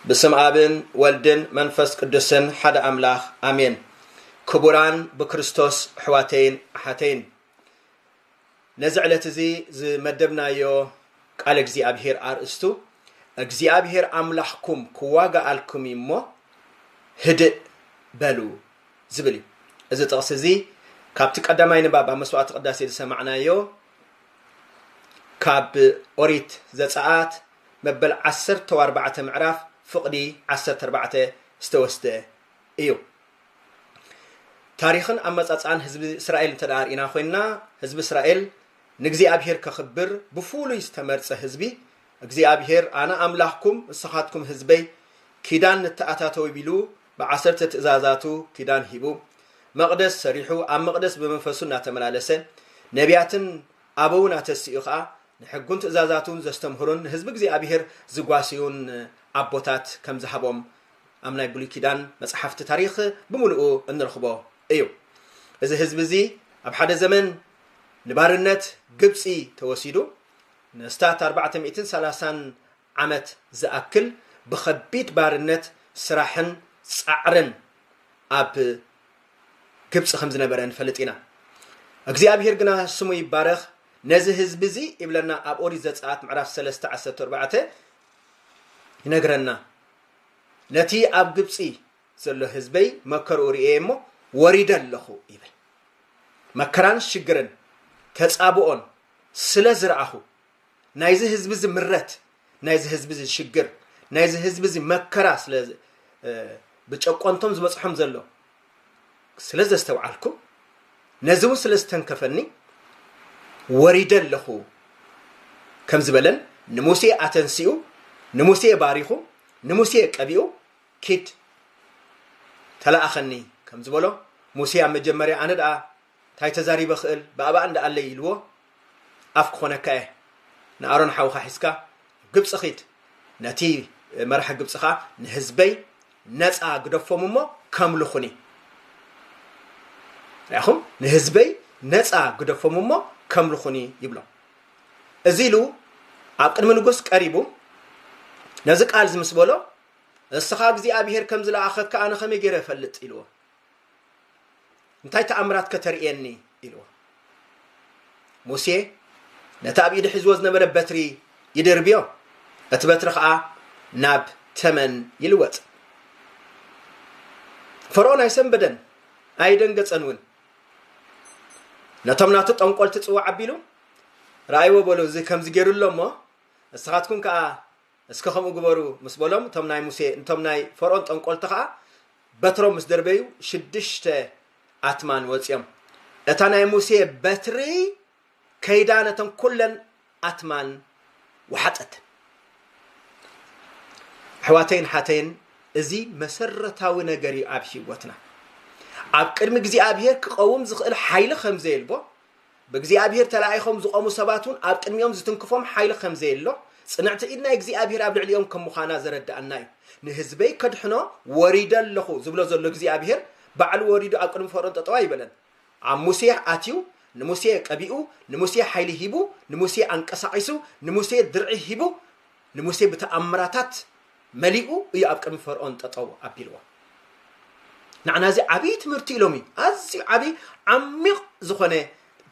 ብስም ኣብን ወልድን መንፈስ ቅዱስን ሓደ ኣምላኽ ኣሜን። ክቡራን ብክርስቶስ ኣሕዋተይን ኣሓተይን ነዚ ዕለት እዚ ዝመደብናዮ ቃል እግዚኣብሄር ኣርእስቱ እግዚኣብሄር ኣምላኽኩም ክዋጋኣልኩም እዩ እሞ ህድእ በሉ ዝብል እዩ እዚ ጥቕሲ እዚ ካብቲ ቀዳማይ ንባብ ኣብ መስዋዕቲ ቅዳሴ ዝሰማዕናዮ ካብ ኦሪት ዘፀኣት መበል ዓሰርተ ኣርባዕተ ምዕራፍ ፍቕዲ ዓሰርተ ኣርባዕተ ዝተወስደ እዩ። ታሪኽን ኣመጻጽኣን ህዝቢ እስራኤል እንተ ርኢና ኮይንና ህዝቢ እስራኤል ንእግዚኣብሄር ከኽብር ብፍሉይ ዝተመርጸ ህዝቢ እግዚኣብሄር ኣነ ኣምላኽኩም ንስኻትኩም ህዝበይ ኪዳን ንተኣታተው ቢሉ ብዓሰርተ ትእዛዛቱ ኪዳን ሂቡ መቕደስ ሰሪሑ ኣብ መቕደስ ብመንፈሱ እናተመላለሰ ነቢያትን ኣበውን ኣተስኡ ከዓ ንሕጉን ትእዛዛቱን ዘስተምህሩን ንህዝቢ እግዚኣብሄር ዝጓስዩን ኣቦታት ከም ዝሃቦም ኣብ ናይ ብሉይ ኪዳን መጽሓፍቲ ታሪኽ ብምሉኡ እንረኽቦ እዩ። እዚ ህዝቢ እዚ ኣብ ሓደ ዘመን ንባርነት ግብጺ ተወሲዱ ንኣስታት ኣርባዕተ ሚእትን ሰላሳን ዓመት ዝኣክል ብኸቢድ ባርነት ስራሕን ጻዕርን ኣብ ግብጺ ከም ዝነበረ ንፈልጥ ኢና። እግዚኣብሄር ግና ስሙ ይባረኽ ነዚ ህዝቢ እዚ ይብለና ኣብ ኦሪት ዘጸኣት ምዕራፍ ሰለስተ ዓሰርተ ኣርባዕተ ይነግረና። ነቲ ኣብ ግብጺ ዘሎ ህዝበይ መከርኡ ርእየ እሞ ወሪደ ኣለኹ ይብል። መከራን ሽግርን ተጻብኦን ስለ ዝረኣኹ ናይዚ ህዝቢ እዚ ምረት ናይዚ ህዝቢ እዚ ሽግር ናይዚ ህዝቢ እዚ መከራ ስለ ብጨቆንቶም ዝበጽሖም ዘሎ ስለ ዘስተውዓልኩ ነዚ እውን ስለ ዝተንከፈኒ ወሪደ ኣለኹ ከም ዝበለን ንሙሴ ኣተንሲኡ ንሙሴ ባሪኹ ንሙሴ ቀቢኡ ኪድ ተላኣኸኒ ከም ዝበሎ ሙሴ ኣብ መጀመርያ ኣነ ደኣ ታይ ተዛሪበ ክእል ብኣባኣ እንዳ ኣለይ ኢልዎ ኣፍ ክኾነካ እየ ንኣሮን ሓውኻ ሒዝካ ግብፂ ኺድ ነቲ መራሒ ግብፂ ኸኣ ንህዝበይ ነፃ ግደፎም እሞ ከምልኹኒ ርኣኹም ንህዝበይ ነፃ ግደፎም እሞ ከምልኹኒ ይብሎ እዚ ኢሉ ኣብ ቅድሚ ንጉስ ቀሪቡ ነዚ ቃል እዚ ምስ በሎ እስኻ እግዚኣብሄር ከም ዝለኣኸካ ኣነ ከመይ ገይረ እፈልጥ ኢልዎ እንታይ ተኣምራት ከተርእየኒ ኢልዎ ሙሴ ነቲ ኣብ ኢዱ ሒዝዎ ዝነበረ በትሪ ይድርብዮ እቲ በትሪ ከዓ ናብ ተመን ይልወጥ ፈርኦን ኣይሰንበደን ኣይደንገፀን እውን ነቶም ናቱ ጠንቆልቲ ፅዋዕ ኣቢሉ ረኣይዎ በሉ እዚ ከምዚ ገይሩ ኣሎ እሞ ንስኻትኩም ከዓ እስከ ከምኡ ግበሩ ምስ በሎም እቶም ናይ ሙሴ እቶም ናይ ፈርኦን ጠንቆልቲ ከኣ በትሮም ምስ ደርበዩ ሽዱሽተ ኣትማን ወጽዮም እታ ናይ ሙሴ በትሪ ከይዳ ነተን ኩለን ኣትማን ወሓጠተን። ኣሕዋተይን ሓተይን እዚ መሰረታዊ ነገር እዩ ኣብ ሂወትና ኣብ ቅድሚ እግዚኣብሄር ክቐውም ዝኽእል ሓይሊ ከምዘየልቦ ብእግዚኣብሄር ተላኢኾም ዝቖሙ ሰባት እውን ኣብ ቅድሚኦም ዝትንክፎም ሓይሊ ከም ዘየሎ፣ ጽንዕቲ ኢድ ናይ እግዚኣብሄር ኣብ ልዕሊኦም ከም ምዃና ዘረድኣና እዩ። ንህዝበይ ከድሕኖ ወሪደ ኣለኹ ዝብሎ ዘሎ እግዚኣብሄር፣ ባዕሉ ወሪዱ ኣብ ቅድሚ ፈርኦን ጠጠው ኣይበለን። ኣብ ሙሴ ኣትዩ፣ ንሙሴ ቀቢኡ፣ ንሙሴ ሓይሊ ሂቡ፣ ንሙሴ ኣንቀሳቒሱ፣ ንሙሴ ድርዒ ሂቡ፣ ንሙሴ ብተኣምራታት መሊኡ እዩ ኣብ ቅድሚ ፈርኦን ጠጠው ኣቢልዋ። ንዓና እዚ ዓብዪ ትምህርቲ ኢሎም እዩ ኣዝዩ ዓብዪ ዓሚቕ ዝኾነ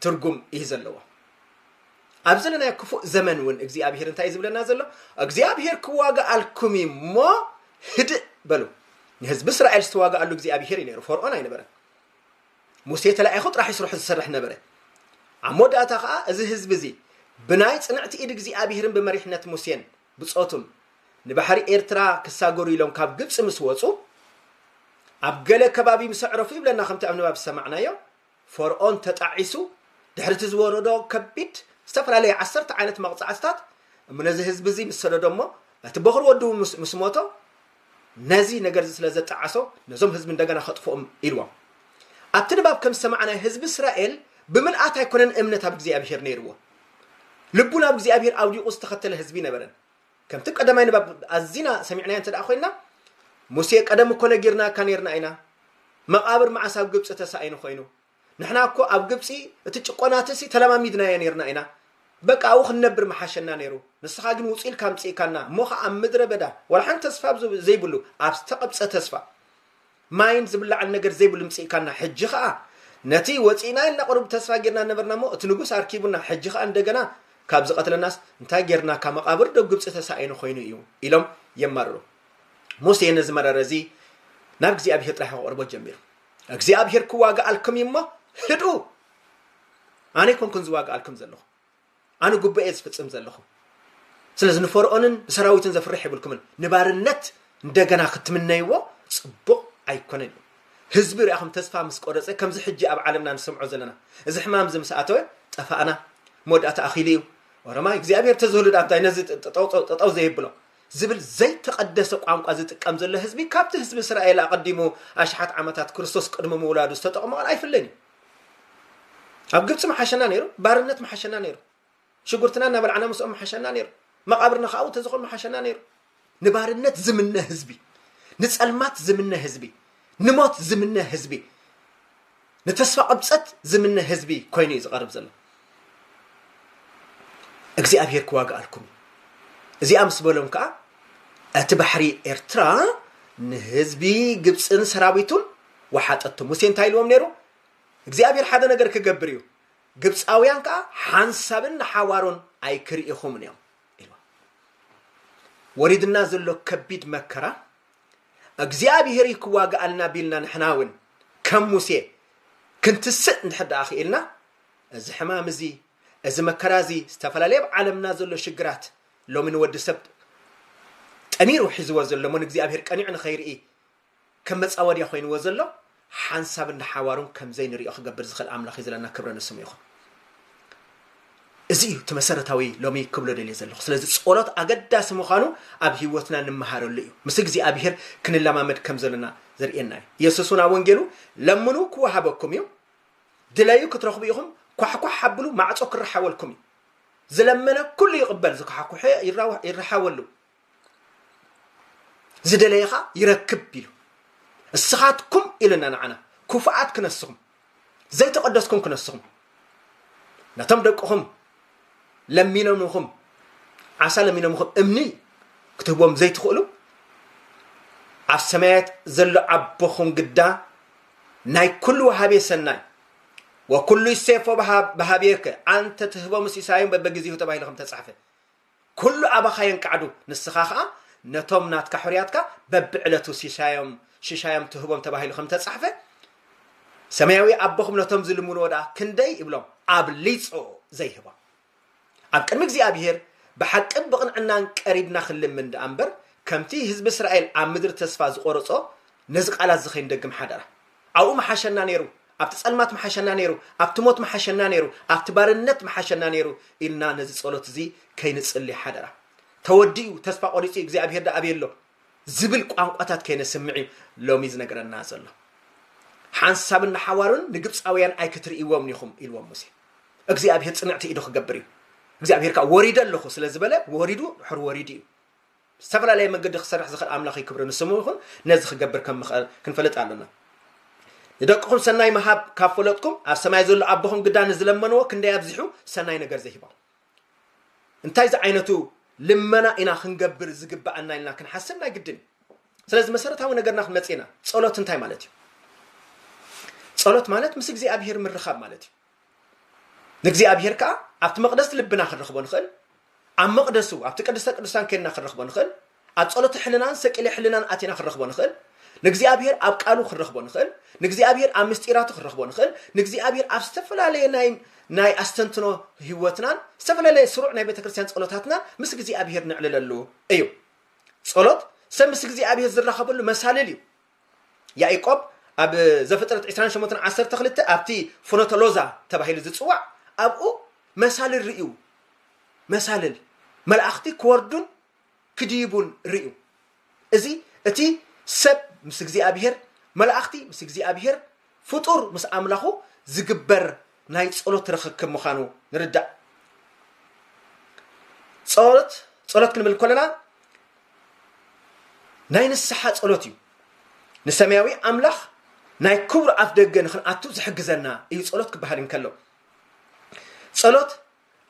ትርጉም እዩ ዘለዎ። ኣብ ዘለናዮ ክፉእ ዘመን እውን እግዚኣብሄር እንታይ እዩ ዝብለና ዘሎ? እግዚኣብሄር ክዋግኣልኩም እዩ እሞ ህድእ በሉ። ንህዝቢ እስራኤል ዝተዋግኣሉ እግዚኣብሄር እዩ ነይሩ፣ ፈርኦን ኣይነበረን። ሙሴ ተላኢኹ ጥራሕ እዩ ስርሑ ዝሰርሕ ነበረ። ኣብ መወዳእታ ከዓ እዚ ህዝቢ እዚ ብናይ ፅንዕቲ ኢድ እግዚኣብሄርን ብመሪሕነት ሙሴን ብጾቱን ንባሕሪ ኤርትራ ክሳገሩ ኢሎም ካብ ግብጺ ምስ ወጹ ኣብ ገለ ከባቢ ምስ ኣዕረፉ ይብለና ከምቲ ኣብ ንባብ ዝሰማዕናዮ ፈርኦን ተጣዒሱ ድሕርቲ ዝወረዶ ከቢድ ዝተፈላለዩ ዓሰርተ ዓይነት መቕጻዕትታት እሞ ነዚ ህዝቢ እዚ ምስ ሰደዶ እሞ እቲ በኹር ወዱ ምስ ሞቶ ነዚ ነገር እዚ ስለ ዘጣዓሶ ነዞም ህዝቢ እንደገና ከጥፍኦም ኢልዎም ኣብቲ ንባብ ከም ዝሰማዕናዮ ህዝቢ እስራኤል ብምልኣት ኣይኮነን እምነት ኣብ እግዚኣብሄር ነይርዎ ልቡ ናብ እግዚኣብሔር ኣውዲቑ ዝተኸተለ ህዝቢ ነበረን። ከምቲ ቀዳማይ ንባብ ኣዚና ሰሚዕናዮ እንተ ደኣ ኮይንና ሙሴ ቀደም እኮ ነጊርናካ ነርና ኢና መቓብር መዓስ ኣብ ግብፂ ተሳኢኑ ኮይኑ ንሕና እኮ ኣብ ግብፂ እቲ ጭቆናትሲ ተለማሚድናዮ ነርና ኢና በቃ ኣብኡ ክንነብር መሓሸና ነይሩ ንስኻ ግን ውፅ ኢልካ ኣምፅእካና እሞ ከዓ ኣብ ምድረ በዳ ዋላ ሓንቲ ተስፋ ዘይብሉ ኣብ ዝተቐብፀ ተስፋ ማይን ዝብላዕን ነገር ዘይብሉ ምጺእካና ሕጂ ከኣ ነቲ ወጺእና ኢልና ቁሩብ ተስፋ ጌርና ነበርና እሞ እቲ ንጉስ ኣርኪቡና ሕጂ ከኣ እንደገና ካብ ዝቀትለናስ እንታይ ጌርናካ መቃብር ዶ ግብጺ ተሳኢኑ ኮይኑ እዩ ኢሎም የማርሩ ሙሴ ነዚ መረረ እዚ ናብ እግዚኣብሄር ጥራሕ ክቐርቦ ጀሚሩ እግዚኣብሄር ክዋግኣልኩም እዩ እሞ ህድኡ ኣነ ኮንኩን ዝዋግኣልኩም ዘለኹ ኣነ ጉባኤ እየ ዝፍፅም ዘለኹ ስለዚ ንፈርኦንን ንሰራዊትን ዘፍርሕ የብልኩምን ንባርነት እንደገና ክትምነይዎ ፅቡቕ ኣይኮነን እዩ ህዝቢ ርኣኹም ተስፋ ምስ ቆረፀ ከምዚ ሕጂ ኣብ ዓለምና ንሰምዖ ዘለና እዚ ሕማም እዚ ምስ ኣተወ ጠፋእና መወዳእታ ኣኺሉ እዩ ወረማይ እግዚኣብሔር ተዝህሉ ዳ እንታይ ነዚ ጠጠው ዘየብሎ ዝብል ዘይተቐደሰ ቋንቋ ዝጥቀም ዘሎ ህዝቢ ካብቲ ህዝቢ እስራኤል ኣቐዲሙ ኣሽሓት ዓመታት ክርስቶስ ቅድሚ ምውላዱ ዝተጠቕመኦን ኣይፍለን እዩ ኣብ ግብፂ ምሓሸና ነይሩ ባርነት ምሓሸና ነይሩ ሽጉርትና እናበላዕና ምስኦም ምሓሸና ነይሩ መቓብርና ከዓ ተዝኾን ምሓሸና ነይሩ ንባርነት ዝምነ ህዝቢ ንፀልማት ዝምነ ህዝቢ ንሞት ዝምነ ህዝቢ ንተስፋ ቅብፀት ዝምነ ህዝቢ ኮይኑ እዩ ዝቐርብ ዘሎ እግዚኣብሄር ክዋግኣልኩም እዩ እዚኣ ምስ በሎም ከዓ እቲ ባሕሪ ኤርትራ ንህዝቢ ግብፅን ሰራዊቱን ወሓጠቶ። ሙሴ እንታይ ኢልዎም ነይሩ? እግዚኣብሄር ሓደ ነገር ክገብር እዩ፣ ግብፃውያን ከዓ ሓንሳብን ንሓዋሮን ኣይክርኢኹምን እዮም ኢልዎም። ወሪድና ዘሎ ከቢድ መከራ እግዚኣብሄር እዩ ክዋግኣልና ቢልና ንሕና እውን ከም ሙሴ ክንትስእ እንድሕር ደኣ ክኢልና እዚ ሕማም እዚ እዚ መከራ እዚ ዝተፈላለየ ኣብ ዓለምና ዘሎ ሽግራት ሎሚ ንወዲ ሰብ ጠሚሩ ሒዝዎ ዘሎ እሞ ንእግዚኣብሄር ቀኒዑ ንኸይርኢ ከም መጻወድያ ኮይንዎ ዘሎ ሓንሳብን ንሓዋሩን ከም ዘይንሪኦ ክገብር ዝኽእል ኣምላኽ እዩ ዘለና ክብሪ ንስሙ ይኹን። እዚ እዩ እቲ መሰረታዊ ሎሚ ክብሎ ደልየ ዘለኹ። ስለዚ ጸሎት ኣገዳሲ ምዃኑ ኣብ ህይወትና ንመሃረሉ እዩ። ምስ እግዚኣብሄር ክንለማመድ ከም ዘለና ዘርእየና እዩ። የሱስ እውን ኣብ ወንጌሉ ለምኑ ክወሃበኩም እዩ፣ ድለዩ ክትረኽቡ ኢኹም፣ ኳሕኳሕ ኣብሉ ማዕጾ ክረሓወልኩም እዩ። ዝለመነ ኩሉ ይቕበል፣ ዝኳሕኩሐ ይረሓወሉ። ዝደለየ ኸኣ ይረክብ ኢሉ እስኻትኩም ኢለና ንዓና ክፉኣት ክነስኹም ዘይተቐደስኩም ክነስኹም ነቶም ደቅኹም ለሚኖምኹም ዓሳ ለሚኖምኹም እምኒ ክትህቦም ዘይትኽእሉ ኣብ ሰማያት ዘሎ ኣቦኹም ግዳ ናይ ኩሉ ወሃቤ ሰናይ ወኩሉ ይሴፎ በሃቤከ ኣንተ ትህቦ ምስ ኢሳዮም በበግዜሁ ተባሂሉ ከም ተጻሕፈ ኩሉ ኣባኻ የንቃዕዱ ንስኻ ከኣ ነቶም ናትካ ሑርያትካ በብዕለቱ ሲሳዮም ሽሻዮም ትህቦም ተባሂሉ ከም ተጻሕፈ ሰማያዊ ኣቦኹም ነቶም ዝልምንዎ ደኣ ክንደይ ይብሎም ኣብሊጹ ዘይህቦም ኣብ ቅድሚ እግዚኣብሄር ብሓቅን ብቕንዕናን ቀሪብና ክንልምን ደኣ እምበር ከምቲ ህዝቢ እስራኤል ኣብ ምድሪ ተስፋ ዝቖረጾ ነዚ ቃላት እዚ ከይንደግም ሓደራ ኣብኡ ምሓሸና ነይሩ፣ ኣብቲ ጸልማት ምሓሸና ነይሩ፣ ኣብቲ ሞት ምሓሸና ነይሩ፣ ኣብቲ ባርነት ምሓሸና ነይሩ ኢልና ነዚ ጸሎት እዚ ከይንጽሊ ሓደራ። ተወዲኡ፣ ተስፋ ቆሪጹ፣ እግዚኣብሄር ደኣ ኣበይ ኣሎ ዝብል ቋንቋታት ከይነስምዕ እዩ ሎሚ ዝነግረና ዘሎ። ሓንሳብን ንሓዋሩን ንግብጻውያን ኣይክትርእይዎምን ኢኹም ኢልዎም ሙሴ። እግዚኣብሄር ጽንዕቲ ኢዱ ክገብር እዩ። እግዚኣብሄር ከኣ ወሪደ ኣለኹ ስለ ዝበለ ወሪዱ ድሕሪ ወሪዱ እዩ። ብዝተፈላለየ መንገዲ ክሰርሕ ዝኽእል ኣምላኽይ ክብሪ ንስሙ ይኹን ነዚ ክገብር ከም ምኽእል ክንፈልጥ ኣሎና ንደቅኹም ሰናይ ምሃብ ካብ ፈለጥኩም ኣብ ሰማይ ዘሎ ኣቦኹም ግዳ ንዝለመንዎ ክንደይ ኣብዚሑ ሰናይ ነገር ዘይህቦም እንታይ ዝዓይነቱ ልመና ኢና ክንገብር ዝግባኣና ኢልና ክንሓስብ ናይ ግድን እዩ ስለዚ መሰረታዊ ነገርና ክንመፅ ኢና ፀሎት እንታይ ማለት እዩ ፀሎት ማለት ምስ እግዚኣብሄር ምርኻብ ማለት እዩ ንእግዚኣብሔር ከዓ ኣብቲ መቕደስቲ ልብና ክንረኽቦ ንኽእል ኣብ መቕደሱ ኣብቲ ቅድስተ ቅዱሳን ከድና ክንረኽቦ ንኽእል ኣብ ጸሎተ ሕልናን ሰቂለ ሕልናን ኣቲና ክንረኽቦ ንኽእል ንእግዚኣብሔር ኣብ ቃሉ ክንረኽቦ ንኽእል ንእግዚኣብሔር ኣብ ምስጢራቱ ክንረኽቦ ንኽእል ንእግዚኣብሔር ኣብ ዝተፈላለየ ናይ ናይ ኣስተንትኖ ህይወትናን ዝተፈላለየ ስሩዕ ናይ ቤተ ክርስቲያን ጸሎታትናን ምስ እግዚኣብሔር ነዕልለሉ እዩ ጸሎት ሰብ ምስ እግዚኣብሔር ዝራኸበሉ መሳልል እዩ ያኢቆብ ኣብ ዘፍጥረት ዕስራን ሸሞንተን ዓሰርተ ክልተ ኣብቲ ፍኖተ ሎዛ ተባሂሉ ዝጽዋዕ ኣብኡ መሳልል ርእዩ መሳልል መላእኽቲ ክወርዱን ክድይቡን ርእዩ እዚ እቲ ሰብ ምስ እግዚኣብሄር መላእኽቲ ምስ እግዚኣብሄር ፍጡር ምስ ኣምላኹ ዝግበር ናይ ጸሎት ርኽክብ ምዃኑ ንርዳእ። ጸሎት ጸሎት ክንብል ከለና ናይ ንስሓ ጸሎት እዩ። ንሰማያዊ ኣምላኽ ናይ ክቡር ኣፍ ደገ ንክንኣቱ ዝሕግዘና እዩ ጸሎት ክበሃል እንከሎ ጸሎት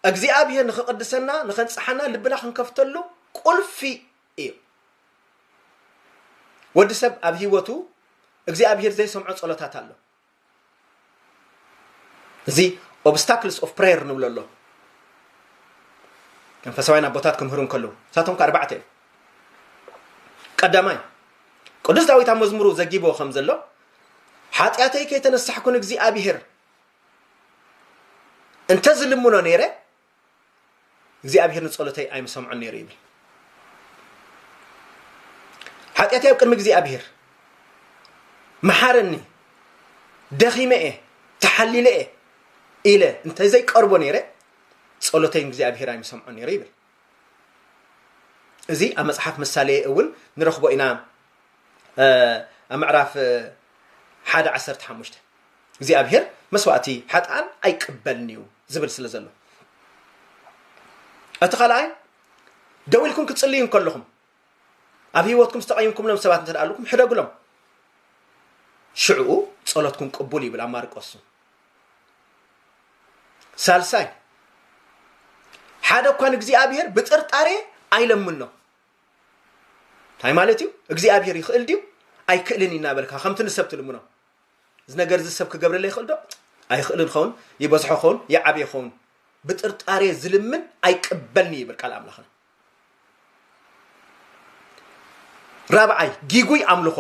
እግዚኣብሔር ንክቕድሰና ንኸንጽሓና ልብና ክንከፍተሉ ቁልፊ እዩ። ወዲ ሰብ ኣብ ህይወቱ እግዚኣብሄር ዘይሰምዖ ጸሎታት ኣሎ። እዚ ኦብስታክልስ ኦፍ ፕሬየር ንብሎ ኣሎ መንፈሳውያን ኣቦታት ክምህሩ እንከለዉ ንሳቶም ከ ኣርባዕተ እዮም ቀዳማይ ቅዱስ ዳዊት ኣብ መዝሙሩ ዘጊብዎ ከም ዘሎ ሓጢኣተይ ከይተነሳሕኩ ንእግዚኣብሄር እንተዝልምኖ ነይረ እግዚኣብሔር ንጸሎተይ ኣይምሰምዖን ነይሩ ይብል ሓጢኣተይ ኣብ ቅድሚ እግዚኣብሔር መሓረኒ ደኺመ እየ ተሓሊለ እየ ኢለ እንተዘይቀርቦ ነይረ ጸሎተይ እግዚኣብሔር ኣይምሰምዖን ነይሩ ይብል እዚ ኣብ መፅሓፍ ምሳሌ እውን ንረኽቦ ኢና ኣብ ምዕራፍ ሓደ ዓሰርተ ሓሙሽተ እግዚኣብሄር መስዋእቲ ሓጥኣን ኣይቅበልን እዩ ዝብል ስለ ዘሎ እቲ ካልኣይ ደው ኢልኩም ክትፅልዩ እንከለኹም ኣብ ህይወትኩም ዝተቐይምኩምሎም ሰባት እንተ ኣለኩም ሕደግሎም ሽዕኡ ጸሎትኩም ቅቡል ይብል ኣብ ማርቆሱ ሳልሳይ ሓደ እኳ ንእግዚኣብሄር ብጥርጣሬ ኣይለምኖ እንታይ ማለት እዩ እግዚኣብሄር ይኽእል ድዩ ኣይክእልን እናበልካ ከምቲ ንሰብ ትልምኖ እዚ ነገርዚ ሰብ ክገብረለይ ይኽእል ዶ? ኣይኽእልን ኸውን፣ ይበዝሖ ኸውን፣ ይዓብዮ ኸውን፣ ብጥርጣሬ ዝልምን ኣይቅበልን'ዩ ይብል ቃል ኣምላኽና። ራብዓይ፣ ጊጉይ ኣምልኾ።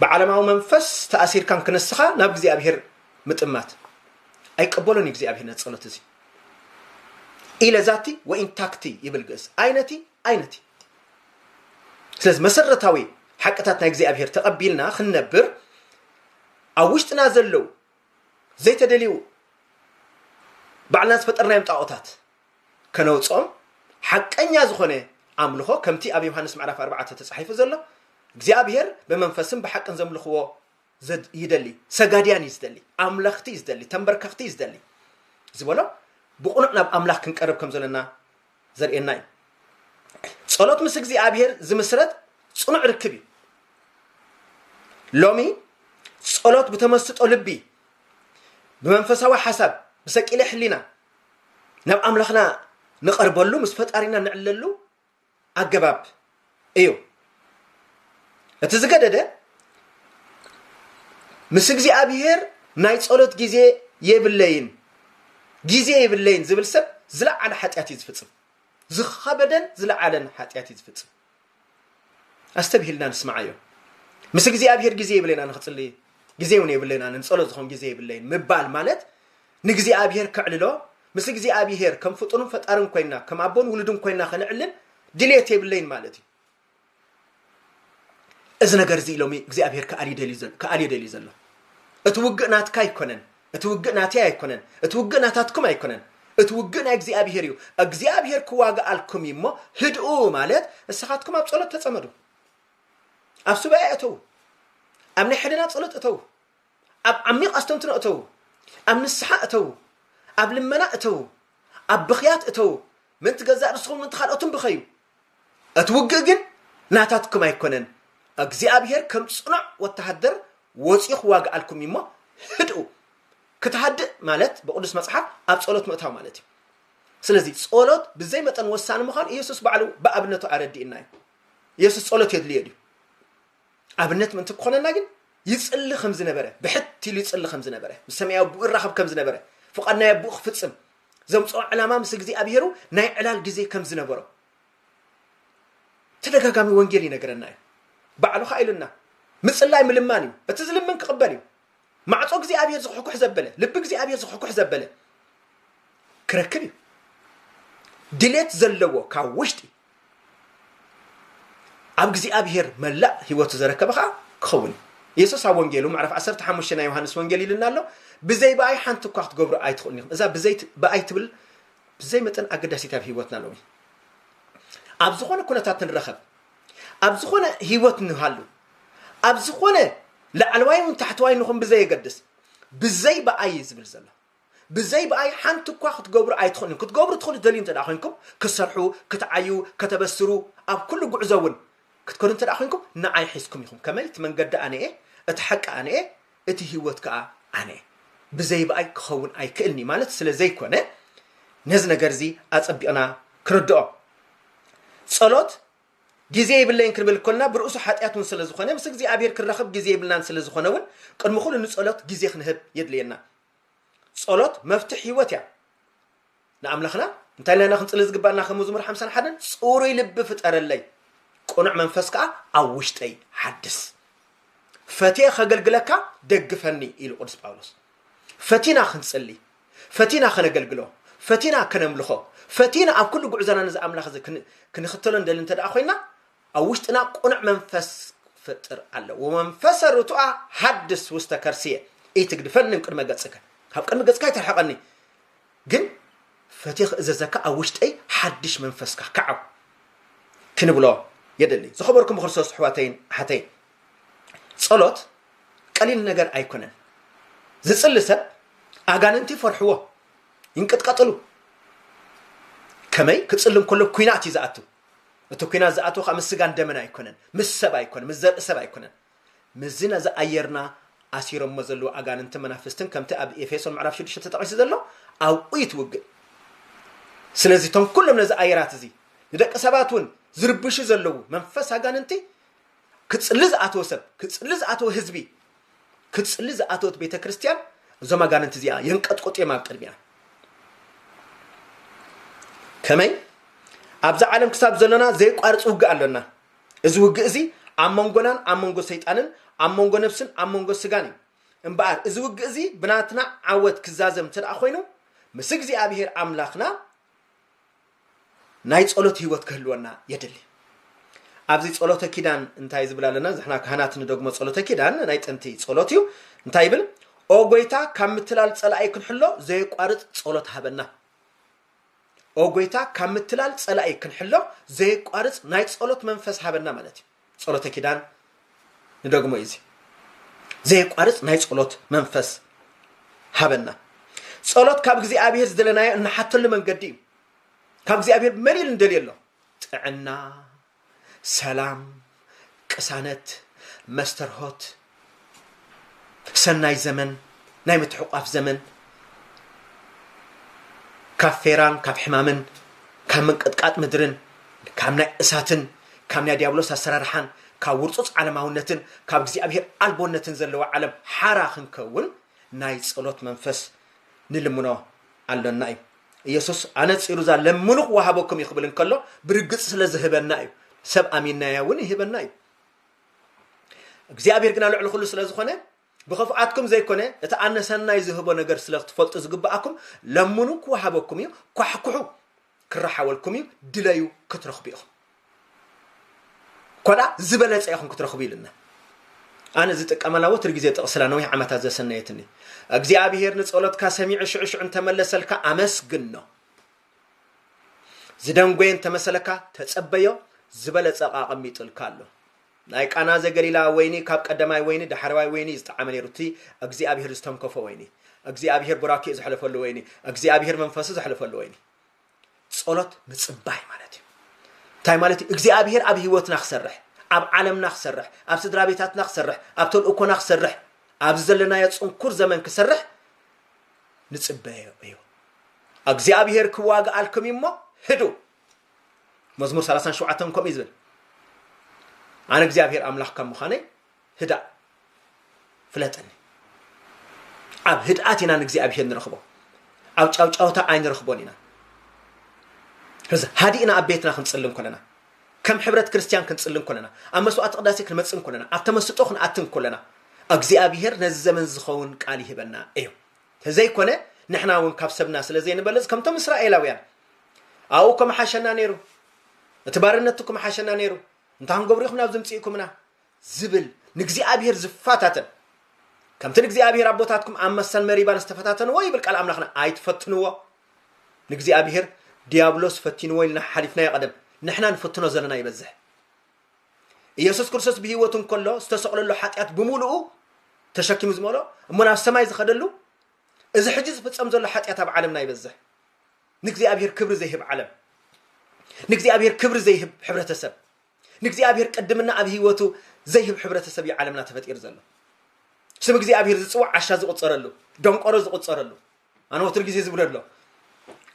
ብዓለማዊ መንፈስ ተኣሲርካን ክንስኻ ናብ እግዚኣብሔር ምጥማት። ኣይቀበሎን እዩ እግዚኣብሔር ነቲ ጸሎት እዚ። ኢለ ዛቲ ወኢንታክቲ ይብል ግእዝ። ኣይነቲ ኣይነት እዩ። ስለዚ መሰረታዊ ሓቅታት ናይ እግዚኣብሄር ተቐቢልና ክንነብር ኣብ ውሽጥና ዘለው ዘይተደልዩ ባዕልና ዝፈጠርናዮም ጣዖታት ከነውፅኦም ሓቀኛ ዝኾነ ኣምልኾ ከምቲ ኣብ ዮሃንስ ምዕራፍ ኣርባዕተ ተፃሒፉ ዘሎ እግዚኣብሄር ብመንፈስን ብሓቅን ዘምልኽዎ ይደሊ ሰጋድያን እዩ ዝደሊ ኣምላኽቲ እዩ ዝደሊ ተንበርከኽቲ እዩ ዝደሊ ዝበሎ ብቑኑዕ ናብ ኣምላኽ ክንቀርብ ከም ዘለና ዘርእየና እዩ። ጸሎት ምስ እግዚኣብሔር ዝምስረት ጽኑዕ ርክብ እዩ። ሎሚ ጸሎት ብተመስጦ ልቢ ብመንፈሳዊ ሓሳብ ብሰቂለ ሕሊና ናብ ኣምላኽና ንቐርበሉ ምስ ፈጣሪና ንዕለሉ ኣገባብ እዩ እቲ ዝገደደ ምስ እግዚኣብሄር ናይ ጸሎት ግዜ የብለይን ግዜ የብለይን ዝብል ሰብ ዝለዓለ ሓጢኣት እዩ ዝፍጽም ዝኸበደን ዝለዓለን ሓጢኣት እዩ ዝፍጽም ኣስተብሂልና ንስማዓዮ ምስ እግዚኣብሄር ግዜ የብለይና ንክጽሊ ግዜ እውን የብለይና ንጸሎት ዝኾን ግዜ የብለይን ምባል ማለት ንእግዚኣብሄር ከዕልሎ ምስ እግዚኣብሄር ከም ፍጡርን ፈጣርን ኮይና ከም ኣቦን ውሉድን ኮይና ከነዕልል ድሌት የብለይን ማለት እዩ እዚ ነገር እዚ ኢሎሚ እግዚኣብሄር ክኣልዩ ደልዩ ዘሎ ክኣልዮ ደልዩ ዘሎ እቲ ውግእ ናትካ ኣይኮነን እቲ ውግእ ናተይ ኣይኮነን እቲ ውግእ ናታትኩም ኣይኮነን እቲ ውግእ ናይ እግዚኣብሄር እዩ እግዚኣብሄር ክዋግኣልኩም እዩ እሞ ህድኡ ማለት ንስኻትኩም ኣብ ጸሎት ተጸመዱ ኣብ ሱባኤ እተዉ ኣብ ናይ ሕልና ጸሎት እተዉ ኣብ ዓሚቕ ኣስተንትኖ እተዉ፣ ኣብ ንስሓ እተዉ፣ ኣብ ልመና እተዉ፣ ኣብ ብኽያት እተዉ፣ ምእንቲ ገዛእ ርእስኹምን ምእንቲ ካልኦትን ብኸዩ። እቲ ውግእ ግን ናታትኩም ኣይኮነን፣ እግዚኣብሄር ከም ጽኑዕ ወተሃደር ወጺኡ ክዋግኣልኩም እዩ እሞ ህድኡ። ክትሃድእ ማለት ብቅዱስ መጽሓፍ ኣብ ጸሎት ምእታው ማለት እዩ። ስለዚ ጸሎት ብዘይ መጠን ወሳኒ ምዃኑ ኢየሱስ ባዕሉ ብኣብነቱ ኣረዲኡና እዩ። ኢየሱስ ጸሎት የድልዮ ድዩ? ኣብነት ምእንቲ ክኾነና ግን ይጽሊ ከም ዝነበረ ብሕት ኢሉ ይጽሊ ከም ዝነበረ ምስ ሰማያዊ ኣቦኡ ይራኸብ ከም ዝነበረ ፍቓድ ናይ ኣቦኡ ክፍጽም ዘምጽኦ ዕላማ ምስ እግዚኣብሄሩ ናይ ዕላል ግዜ ከም ዝነበሮ ተደጋጋሚ ወንጌል ይነገረና እዩ ባዕሉ ከዓ ኢሉና ምጽላይ ምልማን እዩ እቲ ዝልምን ክቕበል እዩ ማዕፆ እግዚኣብሄር ዝኩሕኩሕ ዘበለ ልቢ እግዚኣብሄር ዝኩሕኩሕ ዘበለ ክረክብ እዩ ድሌት ዘለዎ ካብ ውሽጢ ኣብ እግዚኣብሄር መላእ ህይወቱ ዘረከበ ኸኣ ክኸውን እዩ። የሱስ ኣብ ወንጌሉ ምዕራፍ ዓሰርተ ሓሙሽተ ናይ ዮሃንስ ወንጌል ኢሉና ኣሎ፣ ብዘይ ብኣይ ሓንቲ እኳ ክትገብሩ ኣይትኽእሉን ኢኹም። እዛ ብዘይ ብኣይ ትብል ብዘይ መጠን ኣገዳሲት ኣብ ህይወትና ሎሚ ኣብ ዝኾነ ኩነታት ንረኸብ ኣብ ዝኾነ ህይወት ንሃሉ ኣብ ዝኾነ ላዕለዋይ እውን ታሕተዋይ ንኹን ብዘየገድስ ብዘይ ብኣይ ዝብል ዘሎ ብዘይ ብኣይ ሓንቲ እኳ ክትገብሩ ኣይትኽእሉን። ክትገብሩ ትኽእሉ ትደልዩ እንተ ኮይንኩም፣ ክትሰርሑ፣ ክትዓዩ፣ ከተበስሩ፣ ኣብ ኩሉ ጉዕዞ እውን ክትከዱ እንተ ኮይንኩም፣ ንዓይ ሒዝኩም ኢኹም። ከመይ? እቲ መንገዲ ኣነ'የ፣ እቲ ሓቂ ኣነ'የ፣ እቲ ህይወት ከኣ ኣነ'የ። ብዘይ ብኣይ ክኸውን ኣይክእልን'ዩ ማለት ስለ ዘይኮነ፣ ነዚ ነገር'ዚ ኣጸቢቕና ክንርድኦ። ጸሎት ግዜ የብለይን ክንብል ከሎና ብርእሱ ሓጢኣት እውን ስለ ዝኾነ፣ ምስ እግዚኣብሄር ክንራኽብ ግዜ የብልናን ስለ ዝኾነ እውን ቅድሚ ኩሉ ንጸሎት ግዜ ክንህብ የድልየና። ጸሎት መፍትሕ ህይወት እያ ንኣምላኽና እንታይ ኢልና ኢና ክንጽሊ ዝግባእና ከም መዝሙር ሓምሳን ሓደን ጽሩይ ልቢ ፍጠረለይ ቅኑዕ መንፈስ ከዓ ኣብ ውሽጠይ ሓድስ ፈትየ ከገልግለካ ደግፈኒ ኢሉ ቅዱስ ጳውሎስ ፈቲና ክንጽሊ ፈቲና ከነገልግሎ ፈቲና ከነምልኾ ፈቲና ኣብ ኩሉ ጉዕዞና ነዚ ኣምላኽ እዚ ክንኽተሎ ንደሊ እንተ ደኣ ኮይና ኣብ ውሽጥና ቅኑዕ መንፈስ ክፍጥር ኣለዎ። ወመንፈሰ ርቱዐ ሐድስ ውስተ ከርስየ ኢትግድፈኒ እምቅድመ ገጽከ፣ ካብ ቅድሚ ገጽካ ኣይትርሐቐኒ፣ ግን ፈትየ ክእዘዘካ ኣብ ውሽጠይ ሓድሽ መንፈስካ ክዓው ክንብሎ የድሊ። ዝኸበርኩም ብክርስቶስ ኣሕዋተይን ኣሓተይን፣ ጸሎት ቀሊል ነገር ኣይኮነን። ዝጽሊ ሰብ ኣጋንንቲ ይፈርሕዎ፣ ይንቅጥቀጥሉ። ከመይ ክጽሊ እንከሎ ኩናት እዩ ዝኣትው። እቲ ኩናት ዝኣተወ ከኣ ምስ ስጋን ደምን ኣይኮነን ምስ ሰብ ኣይኮነን ምስ ዘርኢ ሰብ ኣይኮነን ምስዚ ነዚ ኣየርና ኣሲሮሞ ዘለዉ ኣጋንንትን መናፍስትን ከምቲ ኣብ ኤፌሶን ምዕራፍ ሽዱሽተ ተጠቒሱ ዘሎ ኣብኡ እዩ ትውግእ ስለዚ እቶም ኩሎም ነዚ ኣየራት እዚ ንደቂ ሰባት እውን ዝርብሹ ዘለዉ መንፈስ ኣጋንንቲ ክጽሊ ዝኣተወ ሰብ ክጽሊ ዝኣተወ ህዝቢ ክጽሊ ዝኣተወት ቤተ ክርስቲያን እዞም ኣጋንንቲ እዚኣ የንቀጥቁጥ እዮም ኣብ ቅድሚያ ከመይ ኣብዚ ዓለም ክሳብ ዘለና ዘይቋርፅ ውግእ ኣሎና እዚ ውግእ እዚ ኣብ መንጎናን ኣብ መንጎ ሰይጣንን ኣብ መንጎ ነብስን ኣብ መንጎ ስጋን እዩ እምበኣር እዚ ውግእ እዚ ብናትና ዓወት ክዛዘም እንተ ኮይኑ ምስ እግዚኣብሄር ኣምላኽና ናይ ጸሎት ህይወት ክህልወና የድሊ። ኣብዚ ጸሎተ ኪዳን እንታይ ዝብል ኣለና? ንሕና ካህናት ንደግሞ ጸሎተ ኪዳን ናይ ጥንቲ ጸሎት እዩ። እንታይ ይብል? ኦ ጎይታ ካብ ምትላል ጸላኢ ክንሕሎ ዘየቋርጽ ጸሎት ሃበና። ኦ ጎይታ ካብ ምትላል ጸላኢ ክንሕሎ ዘየቋርጽ ናይ ጸሎት መንፈስ ሃበና ማለት እዩ። ጸሎተ ኪዳን ንደግሞ ኢዚ ዘየቋርጽ ናይ ጸሎት መንፈስ ሃበና። ጸሎት ካብ እግዚኣብሔር ዝደለናዮ እንሓተሉ መንገዲ እዩ። ካብ እግዚኣብሔር መን ኢሉ ንደልዮ ኣሎ? ጥዕና፣ ሰላም፣ ቅሳነት፣ መስተርሆት፣ ሰናይ ዘመን ናይ ምትሕቋፍ ዘመን ካብ ፌራን ካብ ሕማምን ካብ ምንቅጥቃጥ ምድርን ካብ ናይ እሳትን ካብ ናይ ዲያብሎስ ኣሰራርሓን ካብ ውርፁፅ ዓለማውነትን ካብ እግዚኣብሔር ኣልቦነትን ዘለዎ ዓለም ሓራ ክንከውን ናይ ጸሎት መንፈስ ንልምኖ ኣሎና እዩ ኢየሱስ ኣነጺሩ እዛ ለምኑ ክወሃበኩም እዩ ክብል እንከሎ ብርግጽ ስለ ዝህበና እዩ ሰብ ኣሚናያ እውን ይህበና እዩ እግዚኣብሔር ግና ልዕሊ ኩሉ ስለ ዝኾነ ብኽፍኣትኩም ዘይኮነ እቲ ኣነ ሰናይ ዝህቦ ነገር ስለ ክትፈልጡ ዝግብኣኩም ለምኑ ክወሃበኩም እዩ ኳሕኩሑ ክረሓወልኩም እዩ ድለዩ ክትረኽቡ ኢኹም ኮዳ ዝበለፀ ኢኹም ክትረኽቡ ኢልና ኣነ ዝጥቀመላ ወትር ግዜ ጥቕስላ ነዊሕ ዓመታት ዘሰነየትኒ እግዚኣብሔር ንጸሎትካ ሰሚዑ ሽዑ ሽዑ እንተመለሰልካ ኣመስግን ነው ዝደንጎየ እንተመሰለካ ተጸበዮ ዝበለጸ ኣቐሚጥልካ ኣሎ ናይ ቃና ዘገሊላ ወይኒ ካብ ቀደማይ ወይኒ ዳሕረዋይ ወይኒ ዝጠዓመ ነይሩ እቲ እግዚኣብሄር ዝተንከፎ ወይኒ እግዚኣብሄር ቡራኬኡ ዘሕለፈሉ ወይኒ እግዚኣብሄር መንፈሱ ዘሕለፈሉ ወይኒ ጸሎት ምጽባይ ማለት እዩ እንታይ ማለት እዩ እግዚኣብሄር ኣብ ህይወትና ክሰርሕ ኣብ ዓለምና ክሰርሕ ኣብ ስድራ ቤታትና ክሰርሕ ኣብ ተልእኮና ክሰርሕ ኣብዚ ዘለናዮ ጽንኩር ዘመን ክሰርሕ ንጽበዮ እዩ እግዚኣብሄር ክዋግኣልኩም እዩ እሞ ህዱ መዝሙር 37 ከምኡ እዩ ዝብል ኣነ እግዚኣብሄር ኣምላኽ ካብ ምዃነይ ህዳእ ፍለጠኒ ኣብ ህድኣት ኢና ንእግዚኣብሄር ንረኽቦ ኣብ ጫውጫውታ ኣይንረኽቦን ኢና እዚ ሃዲእና ኣብ ቤትና ክንፅሊ እንኮለና ከም ሕብረት ክርስትያን ክንጽሊ እንኮለና፣ ኣብ መስዋዕተ ቅዳሴ ክንመጽእ እንኮለና፣ ኣብ ተመስጦ ክንኣቲ እንኮለና፣ ኣግዚኣብሄር ነዚ ዘመን ዝኸውን ቃል ይህበና እዩ። ተዘይኮነ ንሕና እውን ካብ ሰብና ስለ ዘይንበልጽ ከምቶም እስራኤላውያን ኣብኡ ከምሓሸና ነይሩ፣ እቲ ባርነቱ ክምሓሸና ነይሩ፣ እንታይ ክንገብሩ ኢኹም ናብ ዝምጽእኩምና ዝብል ንእግዚኣብሄር ዝፈታተን ከምቲ ንእግዚኣብሄር ኣቦታትኩም ኣብ መሰል መሪባን ዝተፈታተንዎ ይብል ቃል ኣምላኽና ኣይትፈትንዎ ንእግዚኣብሄር ድያብሎስ ፈቲንዎ ኢልና ሓሓሊፍናዮ ቀደም ንሕና ንፍትኖ ዘለና ይበዝሕ ኢየሱስ ክርስቶስ ብህይወቱ እንከሎ ዝተሰቕለሉ ሓጢኣት ብምሉኡ ተሸኪሙ ዝመሎ እሞ ናብ ሰማይ ዝኸደሉ እዚ ሕጂ ዝፍጸም ዘሎ ሓጢኣት ኣብ ዓለምና ይበዝሕ ንእግዚኣብሄር ክብሪ ዘይህብ ዓለም ንእግዚኣብሄር ክብሪ ዘይህብ ሕብረተሰብ ንእግዚኣብሄር ቅድምና ኣብ ህይወቱ ዘይህብ ሕብረተሰብ እዩ ዓለምና ተፈጢሩ ዘሎ ስም እግዚኣብሄር ዝፅዋዕ ዓሻ ዝቁፀረሉ ደንቆሮ ዝቁፀረሉ ኣነ ወትሩ ግዜ ዝብሎ ኣሎ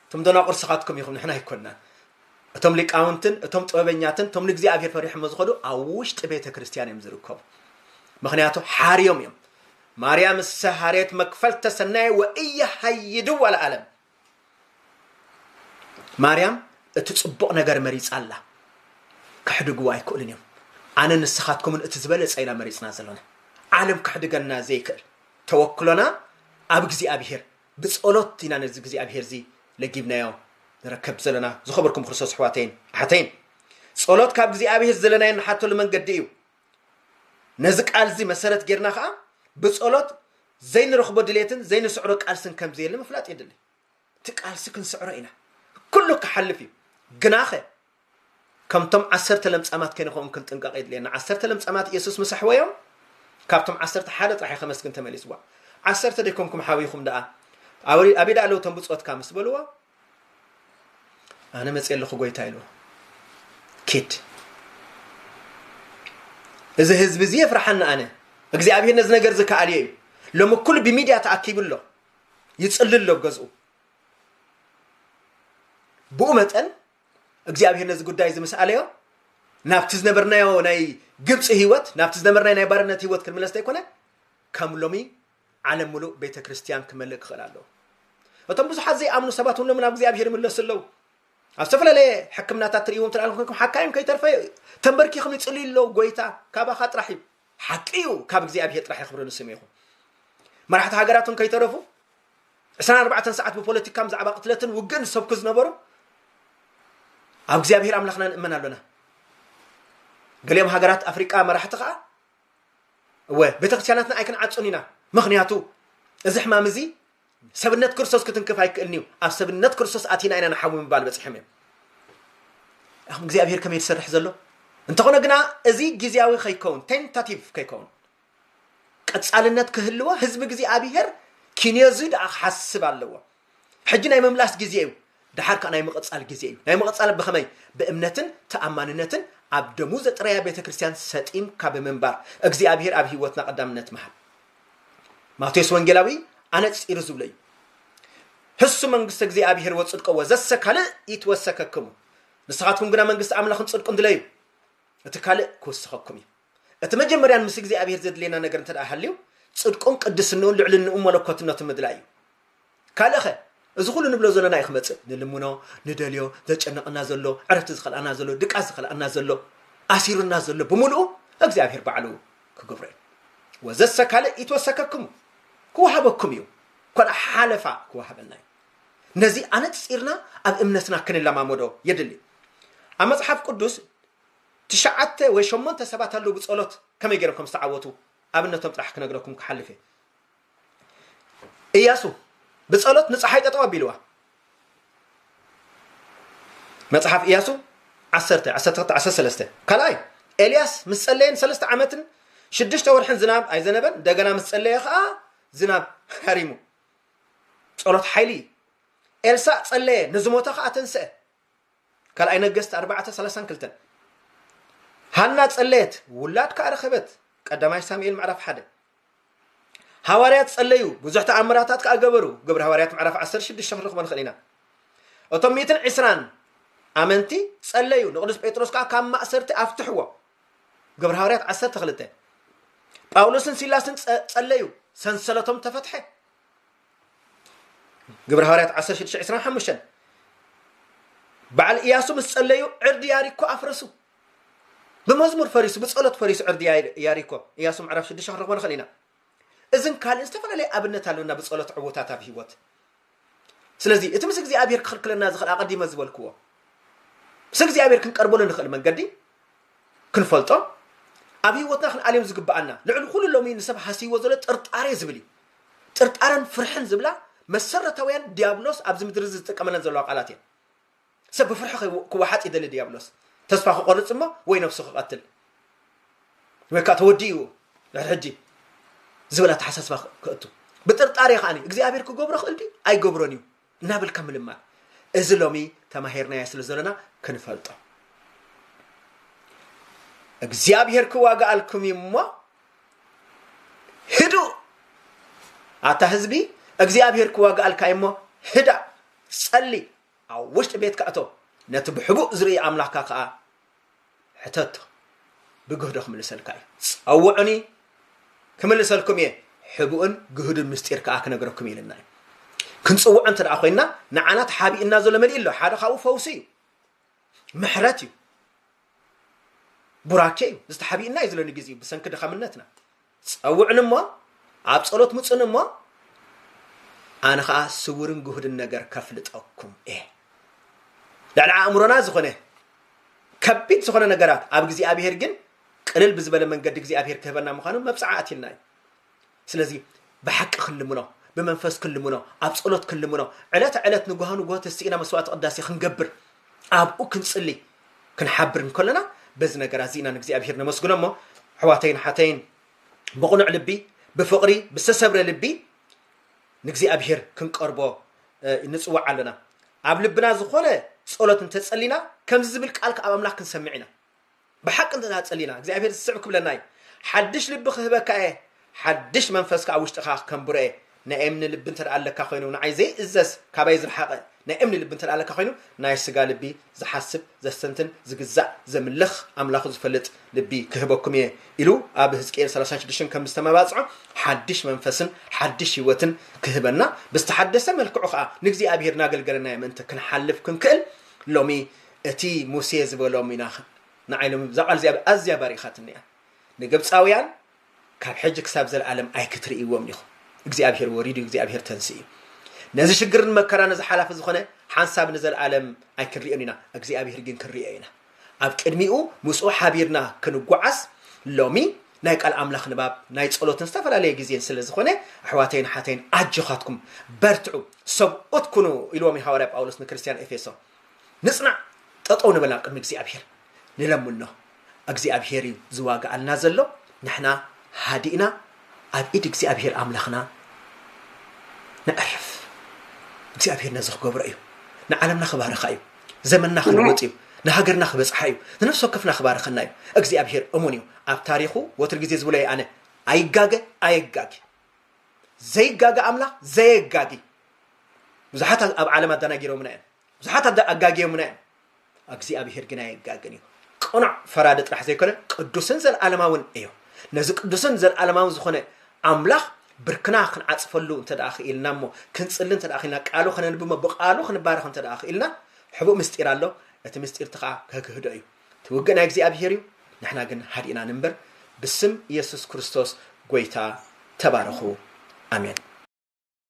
እቶም ደናቁር ስኻትኩም ኢኹም ንሕና ኣይኮናን እቶም ሊቃውንትን እቶም ጥበበኛትን እቶም ንእግዚኣብሔር ፈሪሖሞ ዝኸዱ ኣብ ውሽጢ ቤተ ክርስቲያን እዮም ዝርከቡ ምክንያቱ ሓርዮም እዮም ማርያም እሰ ሃርየት መክፈልተ ሰናይ ወእየ ሃይድ ወለዓለም ማርያም እቲ ፅቡቕ ነገር መሪፃ ኣላ ክሕድግዎ ኣይክእሉን እዮም ኣነ ንስኻትኩምን እቲ ዝበለፀ ኢና መሪፅና ዘለና ዓለም ክሕድገና ዘይክእል ተወክሎና ኣብ እግዚኣብሔር ብጸሎት ኢና ነዚ እግዚኣብሔር እዚ ለጊብናዮ ንረከብ ዘለና ዝኸበርኩም ክርስቶስ ኣሕዋተይን ኣሓተይን ጸሎት ካብ እግዚኣብሔር ዘለናዮ ንሓተሉ መንገዲ እዩ ነዚ ቃል እዚ መሰረት ጌርና ከዓ ብጸሎት ዘይንረኽቦ ድሌትን ዘይንስዕሮ ቃልስን ከምዘየለ ምፍላጥ የድልይ እቲ ቃልሲ ክንስዕሮ ኢና ኩሉ ክሓልፍ እዩ ግናኸ ከምቶም ዓሰርተ ለምጻማት ከይንኸውን ክንጥንቀቕ የድልየና ዓሰርተ ለምጻማት ኢየሱስ ምስ ኣሕወዮም ካብቶም ዓሰርተ ሓደ ጥራሕ ከመስግን ተመሊስዋ ዓሰርተ ደይኮንኩም ሓዊኹም ደኣ ኣቢዳ ኣለዉ እቶም ብፆትካ ምስ በልዎ ኣነ መፅእ ኣለኹ ጎይታ ኢሉ ኪድ እዚ ህዝቢ እዚ የፍርሓኒ ኣነ እግዚኣብሄር ነዚ ነገር ዝከኣልዮ እዩ ሎሚ ኩሉ ብሚድያ ተኣኪቡ ኣሎ ይጽልል ኣሎ ኣብ ገዝኡ ብኡ መጠን እግዚኣብሄር ነዚ ጉዳይ እዚ ምስ ኣለዮ ናብቲ ዝነበርናዮ ናይ ግብፂ ህይወት ናብቲ ዝነበርናዮ ናይ ባርነት ህይወት ክንምለስ ዘይኮነ ከም ሎሚ ዓለም ሙሉእ ቤተ ክርስቲያን ክመልእ ክኽእል ኣለዎ እቶም ብዙሓት ዘይኣምኑ ሰባት እውን ሎሚ ናብ እግዚኣብሄር ይምለሱ ኣለዉ ኣብ ዝተፈላለየ ሕክምናታት ትርእይዎም ትርኣኹም ሓካይም ከይተርፈ ተንበርኪኹም ይፅልዩ ኣለዉ ጎይታ ካባኻ ጥራሕ እዩ ሓቂ እዩ ካብ እግዚኣብሄር ጥራሕ ይኽብሪ ንስም ይኹን መራሕቲ ሃገራትን ከይተረፉ ዕስራን ኣርባዕተን ሰዓት ብፖለቲካ ብዛዕባ ቅትለትን ውግእን ዝሰብኩ ዝነበሩ ኣብ እግዚኣብሄር ኣምላኽና ንእመን ኣሎና ገሊኦም ሃገራት ኣፍሪቃ መራሕቲ ከዓ እወ ቤተክርስትያናትና ኣይክንዓጹን ኢና ምክንያቱ እዚ ሕማም እዚ ሰብነት ክርስቶስ ክትንክፍ ኣይክእልን እዩ። ኣብ ሰብነት ክርስቶስ ኣቲና ኢና ንሓዊ ምባል በጺሖም እዮም። ኣኹም እግዚኣብሔር ከመይ ዝሰርሕ ዘሎ እንተኾነ ግና እዚ ግዜያዊ ከይከውን ቴንታቲቭ ከይከውን ቀጻልነት ክህልዎ ህዝቢ እግዚኣብሔር ኪንዮዚ ደኣ ክሓስብ ኣለዎ። ሕጂ ናይ ምምላስ ግዜ እዩ። ድሓር ከዓ ናይ ምቕጻል ግዜ እዩ። ናይ ምቕጻል ብኸመይ ብእምነትን ተኣማንነትን ኣብ ደሙ ዘጥረያ ቤተ ክርስቲያን ሰጢምካ ብምንባር እግዚኣብሔር ኣብ ህይወትና ቀዳምነት መሃል ማቴዎስ ወንጌላዊ ኣነጺሩ ዝብሎ እዩ ህሱ መንግስተ እግዚኣብሔር ወጽድቆ ወዘሰ ካልእ ይትወሰከክሙ ንስኻትኩም ግና መንግስቲ ኣምላኽን ጽድቁን ድለዩ እቲ ካልእ ክውስኸኩም እዩ እቲ መጀመርያን ምስ እግዚኣብሔር ዘድልየና ነገር እንተ ሃልዩ ጽድቁን ቅድስንኡን ልዕልንኡ መለኮትነቱ ምድላይ እዩ ካልእኸ እዚ ኩሉ ንብሎ ዘሎና እዩ ክመጽእ ንልምኖ ንደልዮ ዘጨንቐና ዘሎ ዕረፍቲ ዝኸልኣና ዘሎ ድቃስ ዝኸልኣና ዘሎ ኣሲሩና ዘሎ ብምሉኡ እግዚኣብሔር ባዕሉ ክገብሮ እዩ ወዘሰ ካልእ ይትወሰከክሙ ክወሃበኩም እዩ ኮልኣ ሓለፋ ክወሃበና እዩ ነዚ ኣነጺርና ኣብ እምነትና ክንለማመዶ የድሊ ኣብ መጽሓፍ ቅዱስ ትሽዓተ ወይ ሸሞንተ ሰባት ኣለዉ ብጸሎት ከመይ ገይሮም ከም ዝተዓወቱ ኣብነቶም ጥራሕ ክነግረኩም ክሓልፍ እየ እያሱ ብጸሎት ንፀሓይ ጠጠው ኣቢልዋ መጽሓፍ እያሱ 1 13 ካልኣይ ኤልያስ ምስ ጸለየን ሰለስተ ዓመትን ሽዱሽተ ወርሕን ዝናብ ኣይዘነበን እንደገና ምስ ጸለየ ከዓ ዝናብ ሃሪሙ ጸሎት ሓይሊ እዩ ኤልሳእ ጸለየ ንዝሞተ ከዓ ተንስአ ካልኣይ ነገስት ኣርባዕተ ሰላሳን ክልተን ሃና ጸለየት ውላድ ከዓ ረኸበት ቀዳማይ ሳሙኤል ምዕራፍ ሓደ ሃዋርያት ጸለዩ ብዙሕ ተኣምራታት ከዓ ገበሩ ግብሪ ሃዋርያት ምዕራፍ 16 ክንረኽቦ ንኽእል ኢና እቶም ሚትን ዕስራን ኣመንቲ ጸለዩ ንቅዱስ ጴጥሮስ ከዓ ካብ ማእሰርቲ ኣፍትሕዎ ግብሪ ሃዋርያት 12 ጳውሎስን ሲላስን ጸለዩ ሰንሰለቶም ተፈትሐ ግብረ ሃዋርያት 16:25 በዓል ኢያሱ ምስ ጸለዩ ዕርዲ ያሪኮ ኣፍረሱ ብመዝሙር ፈሪሱ ብጸሎት ፈሪሱ ዕርዲ ያሪኮ ኢያሱ ምዕራፍ 6 ክንረኽቦ ንኽእል ኢና እዝን ካልእን ዝተፈላለየ ኣብነት ኣለና ብጸሎት ዕውታት ኣብ ህይወት ስለዚ እቲ ምስ እግዚኣብሔር ክኽልክለና ዝኽእል ኣቐዲመ ዝበልክዎ ምስ እግዚኣብሔር ክንቀርበሉ ንኽእል መንገዲ ክንፈልጦ ኣብ ህይወትና ክንኣልዮም ዝግብኣና ልዕሊ ኩሉ ሎሚ ንሰብ ሃስይዎ ዘሎ ጥርጣሬ ዝብል እዩ ጥርጣረን ፍርሕን ዝብላ መሰረታውያን ዲያብሎስ ኣብዚ ምድሪ እዚ ዝጥቀመለን ዘለዋ ቃላት እየን ሰብ ብፍርሒ ክወሓጥ ይደሊ ዲያብሎስ ተስፋ ክቆርፅ እሞ ወይ ነብሱ ክቐትል ወይ ከዓ ተወዲኡ ድሕሪ ሕጂ ዝብል ኣተሓሳስባ ክእቱ ብጥርጣሬ ከዓኒ እግዚኣብሔር ክገብሮ ክእል ድዩ ኣይገብሮን እዩ እናበልካ ምልማን እዚ ሎሚ ተማሂርናዮ ስለ ዘለና ክንፈልጦ እግዚኣብሔር ክዋግኣልኩም እዩ እሞ ህዱ ኣታ ህዝቢ እግዚኣብሔር ክዋግኣልካ እዩ እሞ ህዳ ጸሊ ኣብ ውሽጢ ቤትካ እቶ ነቲ ብሕቡእ ዝርኢ ኣምላኽካ ከዓ ሕተቶ ብግህዶ ክምልሰልካ እዩ። ጸውዑኒ ክምልሰልኩም እየ፣ ሕቡእን ግህዱን ምስጢር ከኣ ክነግረኩም እዩ ኢልና እዩ። ክንጽውዖ እንተ ደኣ ኮይንና ንዓና ተሓቢኡና ዘሎ መሊእ ኣሎ። ሓደ ካብኡ ፈውሲ እዩ፣ ምሕረት እዩ፣ ቡራኬ እዩ፣ ዝተሓቢኡና እዩ ዝለኒ ግዜ እዩ ብሰንኪ ድኻምነትና። ጸውዑኒ እሞ፣ ኣብ ጸሎት ምጹኒ እሞ፣ ኣነ ኸኣ ስውርን ግሁድን ነገር ከፍልጠኩም እየ። ልዕሊ ኣእምሮና ዝኾነ ከቢድ ዝኾነ ነገራት ኣብ እግዚኣብሔር ግን ቅልል ብዝበለ መንገዲ እግዚኣብሔር ክህበና ምዃኑ መብጽዓ ኣትልና እዩ። ስለዚ ብሓቂ ክንልምኖ፣ ብመንፈስ ክንልምኖ፣ ኣብ ጸሎት ክንልምኖ፣ ዕለተ ዕለት ንጉሃ ንጉሆ ተስኢና መስዋዕቲ ቅዳሴ ክንገብር፣ ኣብኡ ክንጽሊ፣ ክንሓብር እንከለና በዚ ነገራት እዚ ኢና ንእግዚኣብሄር ነመስግኖ እሞ ኣሕዋተይን ሓተይን ብቕኑዕ ልቢ ብፍቕሪ ብዝተሰብረ ልቢ ንእግዚኣብሄር ክንቀርቦ ንፅዋዕ ኣለና ኣብ ልብና ዝኾነ ጸሎት እንተጸሊና ከምዚ ዝብል ቃል ካብ ኣምላኽ ክንሰምዕ ኢና ብሓቂ እንተ ጸሊና እግዚኣብሄር ዝስዕብ ክብለና እዩ ሓድሽ ልቢ ክህበካ እየ ሓድሽ መንፈስ ከኣ ኣብ ውሽጥኻ ከንብሮ እየ። ናይ እምኒ ልቢ እንተ ኣለካ ኾይኑ፣ ንዓይ ዘይእዘዝ፣ ካባይ ዝረሓቐ፣ ናይ እምኒ ልቢ እንተ ኣለካ ኾይኑ፣ ናይ ስጋ ልቢ፣ ዝሓስብ፣ ዘስተንትን፣ ዝግዛእ፣ ዘምልኽ፣ ኣምላኹ ዝፈልጥ ልቢ ክህበኩም እየ ኢሉ ኣብ ህዝቅኤል ሰላሳን ሽዱሽተን ከም ዝተመባጽዖ፣ ሓድሽ መንፈስን ሓድሽ ህይወትን ክህበና፣ ብዝተሓደሰ መልክዑ ከኣ ንእግዚኣብሄር እናገልገልናዮ ምእንቲ ክንሓልፍ ክንክእል፣ ሎሚ እቲ ሙሴ ዝበሎም ኢና ንዓይ ሎሚ እዛ ቃል እዚኣ ኣዝያ ባሪኻትኒ እያ። ንግብጻውያን ካብ ሕጂ ክሳብ ዘልኣለም ኣይክትርእይዎም ኢኹም እግዚኣብሄር ወሪዱ እግዚኣብሄር ተንሲኡ ነዚ ሽግርን መከራን እዚ ሓላፊ ዝኾነ ሓንሳብ ንዘልኣለም ኣይክንሪኦን ኢና እግዚኣብሄር ግን ክንሪኦ ኢና ኣብ ቅድሚኡ ምስኡ ሓቢርና ክንጓዓዝ ሎሚ ናይ ቃል ኣምላኽ ንባብ ናይ ጸሎትን ዝተፈላለየ ግዜን ስለ ዝኾነ ኣሕዋተይን ሓተይን ኣጆኻትኩም በርትዑ ሰብኡት ኩኑ ኢልዎም እዩ ሃዋርያ ጳውሎስ ንክርስትያን ኤፌሶን ንጽናዕ ጠጠው ንበል ኣብ ቅድሚ እግዚኣብሄር ንለምኖ እግዚኣብሄር እዩ ዝዋጋኣልና ዘሎ ንሕና ሃዲእና ኣብ ኢድ እግዚኣብሄር ኣምላኽና ነዕርፍ እግዚኣብሄር ነዚ ክገብሮ እዩ ንዓለምና ክባርኻ እዩ ዘመንና ክልወጥ እዩ ንሃገርና ክበጽሓ እዩ ንነፍሲ ወከፍና ክባርኸና እዩ እግዚኣብሄር እሙን እዩ ኣብ ታሪኹ ወትር ግዜ ዝብሎ ኣነ ኣይጋገ ኣየጋጊ ዘይጋገ ኣምላኽ ዘየጋጊ ብዙሓት ኣብ ዓለም ኣደናጊሮምና እዮም ብዙሓት ኣጋጊዮምና እዮም እግዚኣብሄር ግን ኣይጋግን እዩ ቅኑዕ ፈራዲ ጥራሕ ዘይኮነ ቅዱስን ዘለዓለማውን እዩ ነዚ ቅዱስን ዘለዓለማውን ዝኾነ ኣምላኽ ብርክና ክንዓፅፈሉ እንተ ደኣ ክኢልና እሞ ክንፅሊ እንተ ደኣ ክኢልና ቃሉ ከነንብ እሞ ብቃሉ ክንባረኽ እንተ ደኣ ክኢልና ሕቡእ ምስጢር ኣሎ እቲ ምስጢር እቲ ከዓ ከክህዶ እዩ እቲ ውግእ ናይ እግዚኣብሄር እዩ ንሕና ግን ሃዲእና ንንበር ብስም ኢየሱስ ክርስቶስ ጎይታ ተባረኹ ኣሜን